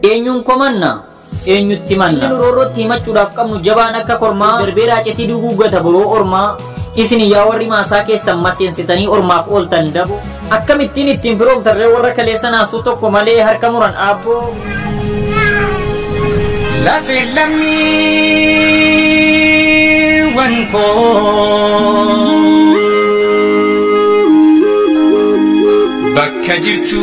Eenyuun komanna? Eenyutti manna? Inni roorrootti himachuudhaaf qabnu jabaan akka kormaa darbee raacetii duguuggata boroo ormaa isin yaa warri maasaa keessan maseensitanii ormaaf ooltan dabo. Akkamittiin ittiin firoomtarree warra kaleessa naasuu tokko malee harka muran aabboo. Lafe lammiiwwan koo bakka jirtu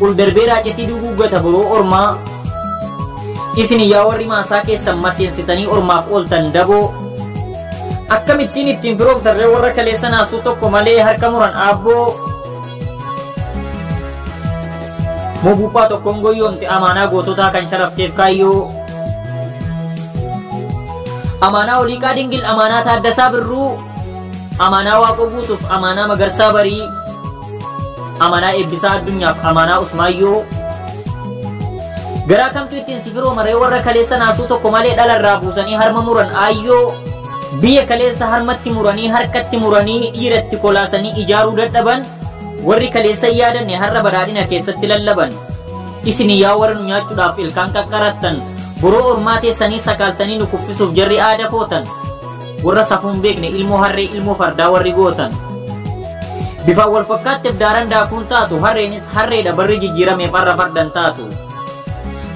ol darbee raacitii duguuggata boroo ormaa isin yaa warri maasaa keessan maseensitanii ormaaf ooltan daboo akkamittiin ittiin firoomtarree warra kaleessa naasuu tokko malee harka muran aabboo mobuuphaa tokkoon goyyoomte amaanaa goototaa kan sharafteef kaayyoo amaanaa oliiqaa dingil amaanaa taaddasaa birruu amaanaa waaqoo guutuuf amaanaa magarsaa barii Amanaa Eebbisaa Addunyaaf Amanaa Usmaayyoo Garaa kamtu ittiin si firooma ree warra kaleessa naasuu tokko malee dhala irraa buusanii harma muran aayyoo biyya kaleessa harmatti muranii harkatti muranii dhiiratti kolaasanii ijaaruu dadhaban warri kaleessa hin yaadanne har'a badhaadhina keessatti lallaban isin yaa warra nu nyaachuudhaaf ilkaan qaqqarattan boroo ormaa teessanii sakaaltanii nu kuffisuuf jarri aada footan Warra safuu hin beekne ilmoo harree ilmoo fardaa warri gootan. Bifaan wal fakkaatti daaran daakuun taatu harreenis harreedha barri jijjiirameef har'a fardan taatu.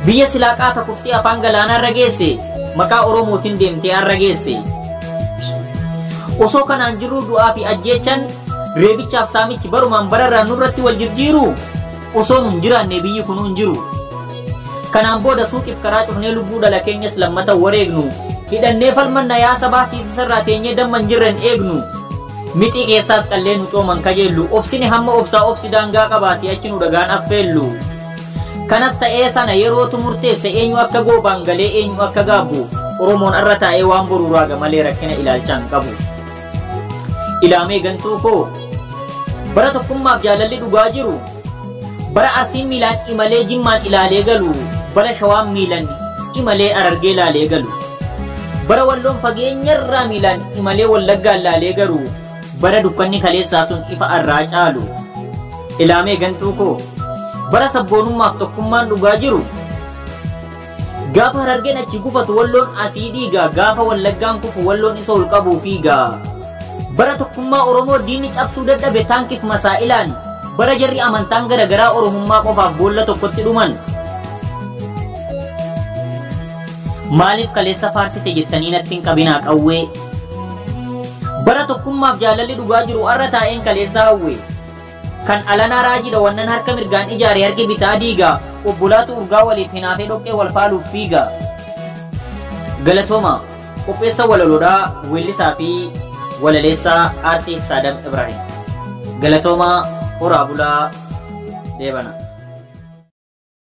Biyya silaa qaata kuftee afaan galaanaa irra geesse maqaa Oromootiin deemtee har'a geesse. Osoo kanaan jirruu du'aa fi ajjeechan reebichaaf saamichi barumaan bararraa nurratti wal jirjiiru Osoo nu hin jiraannee biyyi kunuu hin jiru. Kanaan booda suuqiif karaa cufnee lubbuu dhala keenyas lammata wareegnu. Hidhannee falmanna yaa sabaa tiisisarraa teenyee damma hin jirren eegnu. Mixii keessaas qallee nu cooman kajeellu. Obsini hamma obsaa obsi daangaa qabaa si'achi nu dhagaan affeellu. Kanas ta'ee sana yerootu murteessa eenyu akka goobaan galee eenyu akka gaabbu. Oromoon arra taa'ee waan boruu raaga malee rakkina ilaalchaa hin qabu. Ilaamee gantuu koo bara tokkummaaf jaalalli dhugaa jiru bara arsiin miilaan imalee jimmaan ilaalee galu bara shawaan miilan imalee arargee ilaalee galu bara walloon fageenyarraa miilaan imalee wallaggaa ilaalee garu bara dukkanni kaleessaa sun ifa arraa caalu ilaamee gantuu koo bara sabboonummaaf tokkummaan dhugaa jiru Gaafa Harargeen achi gufatu Walloon asii dhiiga, gaafa Wallaggaan kufu Walloon isa ol qabuu fiiga. Bara tokkummaa Oromoo diinni cabsuu dadhabe taankif masaa'ilaan, bara jarri amantaan gara garaa Oromummaa qofaaf boolla tokkotti dhuman. Maaliif kaleessa faarsite jettanii natti hin qabinaa qawwee. Bara tokkummaaf jaalalli dhugaa jiru har'a taa'een kaleessa hawwe. Kan alanaa raajiidha wannan harka mirgaan ijaare harki bitaa diiga. Obbolaatu urgaa waliif hinaafee dhoqqee wal faaluuf fiiga. Galatooma! Qopheessa walaloodha weellisaa fi walaleessaa Artiist Saadam Ibraahim. Galatoomaa horaa bulaa deebana.